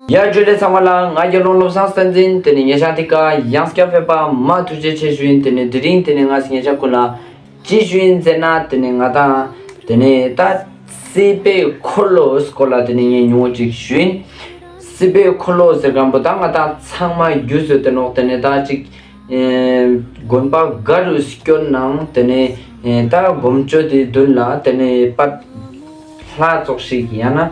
ཡར་བརྗོད་ལས་ཚང་བ་ལ་ང་རྒྱལ་ལོང་བློ་བཟང་བསྟན་འཛིན་དེ་ནི་ཉེ་ཆར་དེ་ཀ་གཡང་སྐྱ་ཕེབས་པདྨ་ཐུགས་རྗེ་ཆེ་ཞུ་ཡིན་དེ་ནི་དེ་རིང་དེ་ནི་ང་སི་ཉེ་ཆར་ཀུན་ལ་ཅི་ཞུ་ཡིན་མཛད་ན་དེ་ནི་ང་དང་དེ་ནི་ད་སི་པའི་འཁོར་ལོ་སྐོར་ལ་དེ་ནི་ངས་ཉུང་ངུ་ཅིག་ཞུ་ཡིན། སི་པའི་འཁོར་ལོ་ཟེར་མཁན་པོ་ད་ང་དང་ཚང་མ་རྒྱུ་བཟོས་དེ་ནོག་དེ་ནི་ད་ཅིག་དགོན་པ་འགའ་རུ་སྐྱོར་ནང་དེ་ནི་ད་སྒོམ་སྤྱོད་དེ་བདུན་ལ་དེ་ནི་པདྨ་ལྷ་ཚོགས་ཤིག་ཡང་ན།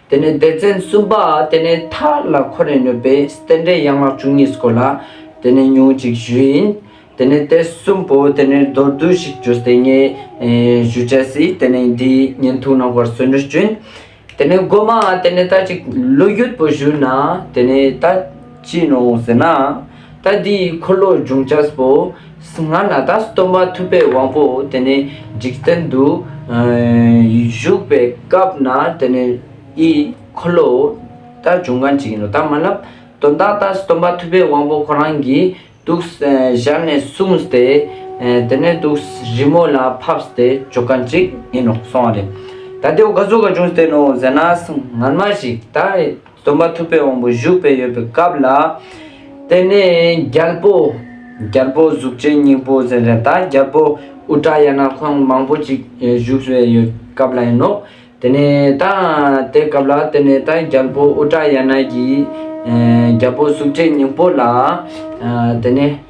དེ་ནས་སྡེ་ཚན་གསུམ་པ་དེ་ནས་ཐ་ལ་ཁོ་ནས་ནོད་པའི་སྟན་འབྲས་ཡན་ལག་བཅུ་གཉིས་སྐོར་ལ་དེ་ནས་ཉུང་ཅིག་བཞི་ཡིན། དེ་ནས་སྟེ་གསུམ་པོ་དེ་ནས་མདོར་བསྡུས་ཤིག་བརྗོད་སྟེ་ངས་བཞུ་བྱ་སྲིད་དེ་ནས་འདི་ཉན་ཐུགས་གནང་བར་གསོལ་འདྲི་བྱོན། དེ་ནས་སྒོ་མ་དེ་ནས་ལྟ་ཅིག་ལོ་རྒྱུས་པོ་བཞུགས་ན་དེ་ནས་ལྟ་ཅི་ནོ་ཟེར་ན། ད་འདི་ཡི་འཁོར་ལོ་འབྱུང་བྱ་བོ། ང་ན་ད་སྟོན་པ་ཐུབ་པའི་དབང་པོ་དེ་ནི་འཇིག་རྟེན་དུ་བཞུགས་པའི་སྐབས་ན་དེ་ནི་ཡི་འཁོར་ལོའོ། ད་འབྱུང་གནས་ཀྱི་ཡིན་ནོ་ད་མ་ལབ། དོན་དག་ད་སྟོན་པ་ཐུབ་པའི་དབང་པོ་ཁོ་རང་གིས་གདུགས་བཞག་ནས་གསུངས་སྟེ། དེ་ནས་གདུགས་རི་མོ་ལ་ཕབ་སྟེ་འཇོག་ག་ཅིག་ཡིན་ནོ་གསུང་བ་རེད། ད་དེའོ་ག་ཟུག་ག་འབྱུང་བསྟན་ནོ་ཟེར་ན་ང་མ་ཞིག་ད། སྟོན་པ་ཐུབ་པའི་དབང་པོ་བཞུགས་པའི་ཡོད་པའི་སྐབས་ལ། དེ་ནས་རྒྱལ་པོ། རྒྱལ་པོ་གཟུགས་ཅན་སྙིང་པོ་ཟེར་མཁན་དང་རྒྱལ་པོ་དབུ་སྐྲ་ཡ་ན་ཁོང་མང་པོ་ཅིག་བཞུགས་པའི་ཡོད་སྐབས་ལ་ཡིན་ནོ། དེ་ནས་ད་དེ་སྐབས་ལ་དེ་ནས་ད་རྒྱལ་པོ་དབུ་སྐྲ་ཡ་ན་གྱིས་རྒྱལ་པོ་གཟུགས་ཅན་སྙིང་པོ་ལ། དེ་ནས།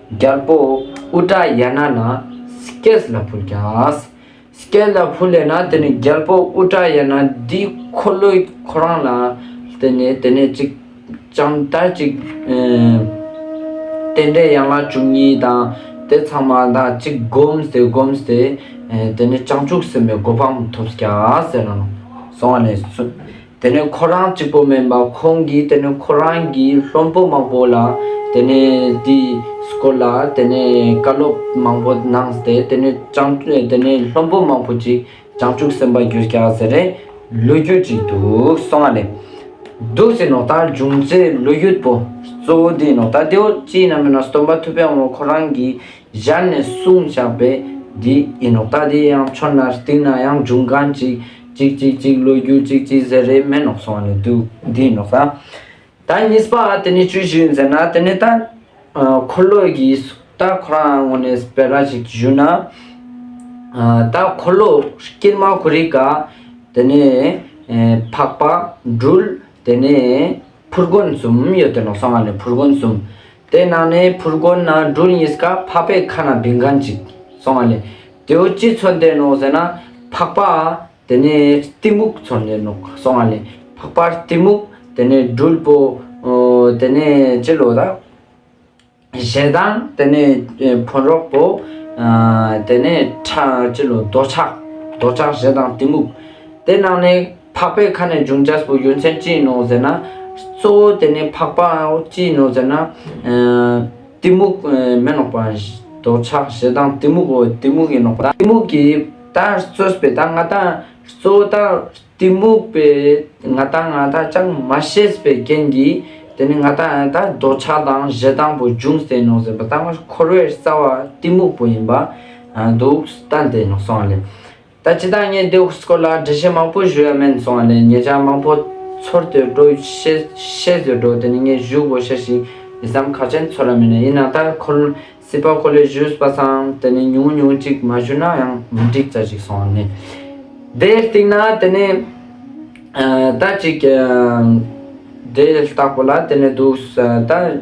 རྒྱལ་པོ་ཨུ་ཏྲ་ཡ་ན་ལ Skes ལ་ཕུལ་ཀྱང། Skes ལ་ཕུལ་ལས་ན་དེ་ནི་རྒྱལ་པོ་ཨུ་ཏྲ་ཡ་ན་འདིས་འཁོར་ལོས་ཁོ་རང་ལ་བསྟན་ནས་དེ་ནས་ཅིག་ལྕམ་དར་ཅིག། རྟེན་འབྲེལ་ཡན་ལག་བཅུ་གཉིས་དང་དེ་ཚང་མ་དང་ཅིག་བསྒོམས་ཏེ་བསྒོམས་ཏེ། དེ་ནས་བྱང་ཆུབ་སེམས་དཔའི་གོ་འཕང་ཐོབ་ཀྱང་ཟེར་ནས་སོང་བ་ནས་བཟུང། དེ་ནས་ཁོ་རང་གཅིག་པོ་མིན་པར་ཁོང་གིས་དེ་ནས་ཁོ་རང་གི་སློབ་འབོ་མང་པོ་ལ་དེ་ནས་དེ་སྐོར་ལ་དེ་ནས་བཀའ་སློབ་མང་པོ་གནང་སྟེ་དེ་ནས་སྤྱང་དེ་ནས་སློབ་འབོ་མང་པོ་ཅིག་སྤྱང་ཕྲུག་སེམས་པ་རྒྱུ་སྐྱ་ཟེར་རེ་ལོས་རྒྱུ་ཅིག་འདུག་སོང་ང་ལེ། འདུག་སེ་ནོག་ལྟར་འབྱུང་ཚེ་ལོས་རྒྱུ་པོ་གཙོ་བོ་དེ་ནོག་ལྟ་དེའོ་ཅི་ཡིན་ན་མིན་ན་སྟོན་པ་ཐུབ་པས་འོང་ཁོ་རང་གིས་སྦྱར་ནས་གསུངས་བཞག་པས་འདི་ཡིན་ནོ་ལྟ་དེ་ཡང་ཆོ་ནར་གཏིགས་ན་ཡང་འབྱུང་གང་གཅིག། གཅིག་གཅིག་གཅིག་བློ་རྒྱུ་གཅིག་གཅིག་ཟེར་རེས་མེད་ནོག་སོང་ནས་འདུག་འདི་ཡིན་ནོ་ལྟ། ད་གཉིས་པ་དེ་ནི་ཅི་ཞིག་ཡིན་ཟེར་ན་དེ་ནི་ལྟ། འཁོར་ལོ་ཡི་ལྟ་ཁོ་རང་ངོ་ནས་བེ་ར་ཞིག་བཞུགས་ན། ལྟ་འཁོར་ལོ་དཀྱིལ་མ་གུ་རི་ཀ། དེ་ནས་འཕགས་པ་འབྲུལ་དེ་ནས་ཕུར་དགོན་གསུམ་ཡོད་དེ་ནོག་སོང་ང་ནས་ཕུར་དགོན་གསུམ། དེ་ནང་ནས་ཕུར་དགོན་ན་སྦྲུལ་གཉིས་སྐབས་འཕགས་པའི་ཁ་ན་བིང་གང་ཅིག་སོང་བ་ལས་དེའུ་ཅི་ཚོད་འདེད་ནོ་ཟེར་ན་འཕགས་པ་དེ་ནས་གཏི་མུག་ཚོད་འདེད་ནོ་སོང་བ་ལས་འཕགས་པར་གཏི་མུག་དེ་ནས་སྦྲུལ་པོ་དེ་ནས་ཅི་ལོ་ད་ཞེ་སྡང་དེ་ནས་ཕོ་འདྲོག་པོ་དེ་ནས་ཁྲ་ཅི་ལོ་རྡོ་ཆག་རྡོ་ཆག་ཞེ་སྡང་གཏི་མུག་དེ་ནང་ནས་འཕགས་པའི་ཁ་ནས་འབྱུང་བྱ་སྤུ་ཡོད་མཚན་ཅི་ཡིན་ནོ་ཟེར་ན། གཙོ་བོ་དེ་ནི་འཕགས་པའང་ཅི་ཡིན་ནོ་ཟེར་ན། གཏི་མུག་མེ་ནོག་པ། འདོད་ཆགས་ཞེ་སྡང་གཏི་མུག་གོ་གཏི་མུག་གིས་ནོག་པ་དང། གཏི་མུག་གིས་ད་གཙོས་པའི་ད་ང་དང། གཙོ་བོ་ད་གཏི་མུག་པས་ང་དང་ང་དག་ཅང་མ་ཤེས་པའི་རྐྱེན་གྱིས། དེ་ནི་ང་དང་ད་འདོད་ཆགས་དང་ཞེ་སྡང་པོ་འབྱུང་ཟིན་ནོ་ཟེར་པ་ད་ང་འཁོར་བའི་རྩ་བ་གཏི་མུག་པོ་ཡིན་པ། འདུག་སྟངས་དེ་ནོག་སོང་བ་ལས། ད་ལྕི་དང་ངའི་ལྡེའུ་སྐོར་ལ་འབྲི་བྱེད་མང་པོ་བཞུགས་ཡ་མེད་སོང་བ་ལས་ངེད་ཅག་མང་པོ་ཚོར་དུད་འགྲོ་ཤེས་ཟོས་འགྲོ་དེ་ནི་ངས་བཞུགས་དགོས་ཤེས་ཤིང་ཡི་སམ་ཁ་ཅན་ཚོར་ལ་མེད་ནས་ཡིན་ན་ད་ཁོ་སྲིད་པ་ཁོ་ལས་བཞུགས་པ་སང་དེ་ནི་ཉུང་ངུ་ཉུང་ཅིག་མ་བཞུགས་ན་ཡང་མི་འགྲིག་ཙ་ཞིག་སོང་བ་ནི། དེའི་སྟེང་ན་དེ་ནི་ད་ཅིག་དེའི་ལྟག་པོ་ལ་དེ་ནི་འདུག་ད།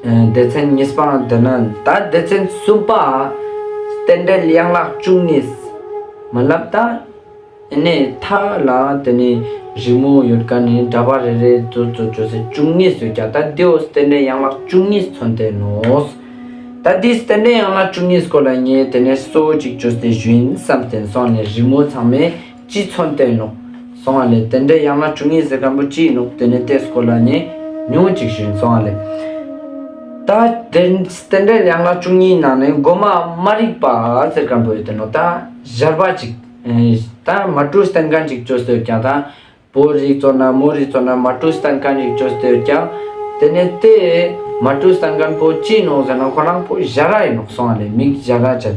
སྡེ་ཚན་གཉིས་པའང་འདི་ན་ད་སྡེ་ཚན་གསུམ་པ། རྟེན་འབྲེལ་གཡང་ལག་བཅུ་གཉིས། མ་བསླབ་ད་ནི་མཐའ་ལ་དེ་ནི་རི་མོ་ཡོད་ཀ་ནི་འདྲ་པ་རེ་རེ་ཙོ་ཙོ་ཅོ་སེ་བཅུ་གཉིས་སུ་བརྒྱ་སྟ་དེའོ་རྟེན་འབྲེལ་གཡང་ལག་བཅུ་གཉིས་མཚོན་ཏེ་ནོ། ད་དེའི་རྟེན་འབྲེལ་གཡང་ལག་བཅུ་གཉིས་སྐོར་ལ་ངས་དེ་ནས་སོ་གཅིག་ཅོ་སེ་བཞིན་བསམ་སྟེ་སོང་ནས་རི་མོ་ཚང་མའི། གཅིག་མཚོན་བསྟན་ནོ། གསང་བ་ལས། དེ་འདྲའི་ཡང་ན་གྲུ་ངེས་ཟེར་གམ་པོ་ཅི་ཡིན་ནོ་དེ་ནི་ཏེ་སྐོར་ལ་ནི། ཉུང་ཅིག་བཞིན་གསང་བ་ལས། ད་དེ་འདྲའི་ཡང་ན་གྲུ་གཉིས་ནང་ནས་སྒོ་མ་མ་རིག་པ་ཟེར་གམ་པོ་ཡོད་དོ་ནོ་ད་གཞར་བ་ཅིག། ད་མ་གྲུ་སྟན་གང་ཅིག་བཅོས་སྡོད་ཀྱང་ད་བོ་རིག་གཙོ་ན་མོ་རིག་གཙོ་ན་མ་གྲུ་སྟན་གང་ཅིག་བཅོས་སྡོད་ཀྱང། དེ་ནི་ཏེ། མ་གྲུ་སྟན་གང་པོ་ཅི་ཡིན་ནོ་ཟེར་ན་ཁོ་རང་པོ་གཞར་ར་ཡིན་ནོ་གསང་བ་ལས་མིག་གཞར་ར་ཅན།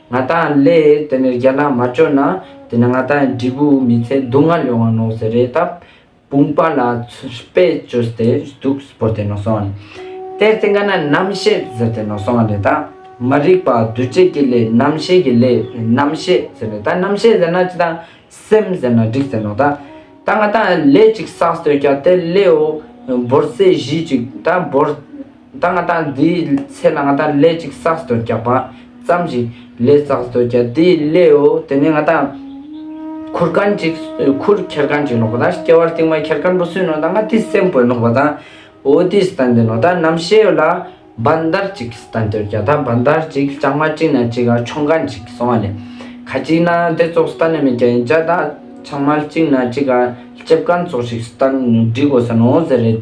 ང་དང་ལས་དེ་ནས་རྒྱ་ནག་མ་བཅོས་ན་དེ་ནས་ང་དང་འབྲས་བུ་མི་ཚེ་སྡུག་བསྔལ་ཡོང་བ་ནོངས་ཟེར་རེད་སྟབས་དཔུང་པ་ལ་དཔེ་བཅོས་ཏེ་སྡུག་སྤོར་ཏེ་ནོངས་སོང་བ་རེད། དེར་བརྟེན་ཀ་ན་རྣམ་བཤད་ཟེར་ཏེ་ནོངས་སོང་བ་རེད་ད། མ་རིག་པ་བདུད་བརྗེད་ཀྱི་ལས་རྣམ་བཤད་ཀྱི་ལས་རྣམ་བཤད་ཟེར་རེད་ད་རྣམ་བཤད་ཟེར་ན་ཅི་ད་སེམས་ཟེར་ན་འགྲིག་ཟེར་ནོག་ད། ད་ང་དང་ལས་ཅིག་བསགས་སྟོད་རྒྱ་དེར་ལེའོ་འབོར་ཟེར་གཞིས་ཅིག་ད་འབོར། ད་ང་ད་འདིའི་ཚེ་ལ་ང་ད་ལས་ཅིག་བསགས་སྡོད་རྒྱག་པ་ཙམ་ཞིག་ལས་བསགས་སྡོད་རྒྱག་འདི་ལེའོ་དེ་ནས་ང་ད་ཁུར་གན་ཅིག་ཁུར་ཁྱེར་གན་ཅིག་ལོག་པ་ད་སྐྱེ་བར་རྟིང་མ་ཁྱེར་གན་པོ་སུན་ནོ་ད་ང་དེ་སེམས་བོད་ལོག་པ་ད་འོ་དེ་སྟ་འདི་ནོ་ད་ནམ་ཤེས་ལ་བན་དར་ཅིག་སྟ་འདོད་རྒྱག་ད་བན་དར་ཅིག་སྤྱང་མ་ཅིག་ན་ཅིག་ག་ཆོང་གན་ཅིག་སོང་བ་ལས་ཁ་ཅིག་ན་དེ་ཙོག་སྟ་ནི་མི་རྒྱ་ཡིན་ཅག་ད་ཆང་མ་ཅིག་ན་ཅིག་ག་ལྕེབས་གན་ཙོག་ཞིག་སྟ་འདྲི་དགོས་ས་ནོ་ཟེར་རེད།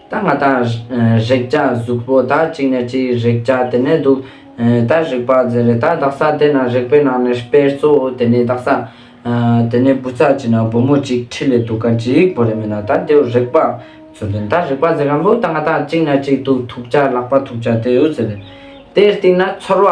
ད་ང་ད་རེག་བྱ་གཟུགས་པོ་ད་གཅིག་ནས་གཅིག་རེག་བྱ་དེ་ནས་འདུག་ད་རེག་པ་རྫས་རེད་ད་བདག་ས་དེ་ན་རེག་པའི་ནང་ནས་དཔེར་གཙོ་བོ་དེ་ནི་བདག་ས། དེ་ནས་བུ་ཚ་གཅིག་ན་བུ་མོ་གཅིག་ཁྲི་ལས་འདུག་ག་གཅིག་པོ་རེ་མེད་ན་ད་དེའུ་རེག་པ་ཟུར་དེ་ནི་ད་རེག་པ་རྫས་གང་པོ་ད་ང་ད་གཅིག་ན་གཅིག་འདུག་ཐུག་བྱ་ལག་པ་ཐུག་བྱ་དེའུ་ཟེར་རེད་དེའི་སྟེང་ན་ཚོར་བ།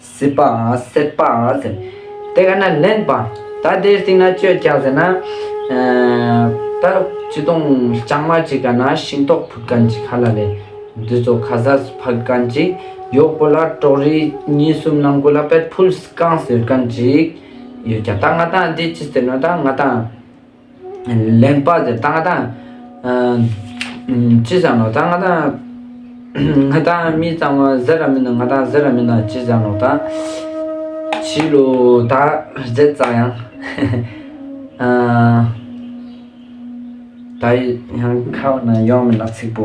སྲིད་པ་སྲེད་པ་ཟེར། དེ་ག་ན་ལེན་པ། ད་དེའི་སྟེང་ན་སྤྱོད་བྱ་ཟེར་ན། ད་ཅི་སྟོང་རྐྱང་མ་ཅིག་ག་ན་ཤིང་ཏོག་ཕུད་གན་ཅིག་ཧ་ལ་ལས། འདི་ཚོ་ཁ་ཟས་སུ་ཕག་གན་ཅིག། ཡོག་པོ་ལ་གྲོག་རི་གཉིས་གསུམ་ནང་ཁུལ་ལ་པད་ཕུལ་སྐང་ཟེར་གན་ཅིག་ཡོད་ཀྱང། ད་ང་ད་འདི་ཅི་ཟེར་ནོ་ད་ང་ད། ལེན་པ་དེ་ལྟ་སྟངས་ཅི་བྱ་ནོ་ད་ང་དང་ང་དང་མི་ཙམ་མ་ཟེར་ར་མིན་ན་ང་དང་ཟེར་ར་མིན་ན་ཅི་བྱ་ནོ་ད་བྱིས་ལོ་ད་རྫས་བཙག་ཡང་ད་ཡང་ཁ་བ་ན་ཡོང་མིན་ན་ཚིག་པོ་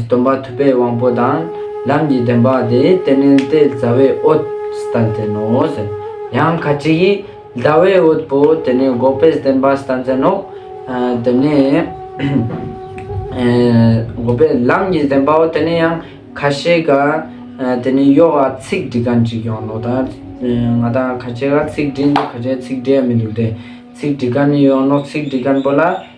སྟོན་པ་ཐུབ་པའི་དབང་པོ་དང་ལམ་གྱི་བདེན་པ་དེ་དེ་ནི་ཏེ་བཟའ་བའི་འོད་སྟན་ཅན་ནོ། ཡང་ཁ་ཅིག་གིས་བཟའ་བའི་འོད་པོ་དེ་ནི་འགོག་པའི་བདེན་པ་སྟན་ཅན་ནོ། དེ་ནས་འགོག་པའི་ལམ་གྱི་བདེན་པའོ་དེ་ནི་ཡང་ཁ་ཤས་ཀྱིས་དེ་ནི་གཡོག་ལ་ཚིག་འདྲི་ག་འདྲི་ཀྱང་ནོ། ང་དང་ཁ་ཅིག་ལ་ཚིག་འདྲི་འདུག་ཁ་ཅིག་ལ་ཚིག་འདྲི་ཡང་མི་འདུག་སྟེ། ཚིག་འདྲི་ག་ནི་གཡོག་ནོ་ཚིག་འདྲི་མཁན་པོ་ལ།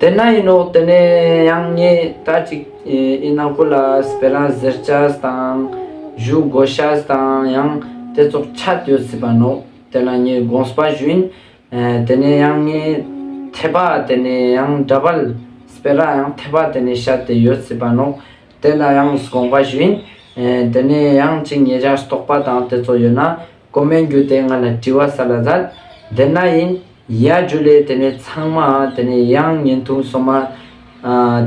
དེ་ན་ཡིན་ནོ་དེ་ནས་ཡང་ངས་ད་ཅིག་ཨི་ན་ཀོ་ལ་སི་པེ་རང་ཟེར་བཅས་དང། ཇུའུ་སྒོ་བཤས་དང་ཡང་དེ་ཚོགས་ཆད་ཡོད་སྲིད་པ་ནོ་དེ་ལ་ངས་དགོངས་པ་ཞུས། དེ་ནས་ཡང་ངས་ཐེ་པ་དེ་ནས་ཡང་འདྲ་བལ་སི་པེ་ར་ཡང་ཐེ་པ་དེ་ནས་བཤས་དེ་ཡོད་སྲིད་པ་ནོ་དེ་ལ་ཡང་དགོངས་པ་ཞུས། དེ་ནས་ཡང་ཅིག་ངེད་ཅག་སྟོགས་པ་དང་དེ་ཚོ་ཡོད་ན། ཀོ་སྨན་རྒྱུ་དེ་ང་ལ་དྲི་བ་ཟ་ལ་ཟ། དེ་ན་ཡིན། ཡ་རྒྱུ་ལས་དེ་ནས་ཚང་མ་དེ་ནས་ཡང་ཉིན་ཐུང་སོ་མ།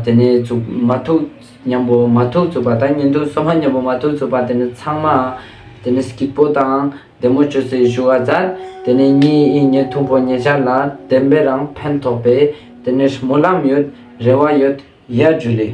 དེ་ནས་ཚུགས་མ་ཐུག་མཉམ་པོ་མ་ཐུག་ཚུགས་པ་དང་ཉིན་ཐུང་སོ་མ་མཉམ་པོ་མ་ཐུག་ཚུགས་པ་དེ་ནས་ཚང་མ། དེ་ནས་སྐྱིད་པོ་དང་བདེ་མོ་བྱོས་ཚེ་བཞུ་བ་ཟ། དེ་ནས་གཉིས་ཨི་ཉིན་ཐུང་པོ་ཉེ་ཆར་ལ་བདེན་པའི་རང་ཕན་ཐོགས་པས་དེ་ནས་སྨོན་ལམ་ཡོད་རེ་བ་ཡོད་ཡ་རྒྱུ་ལས།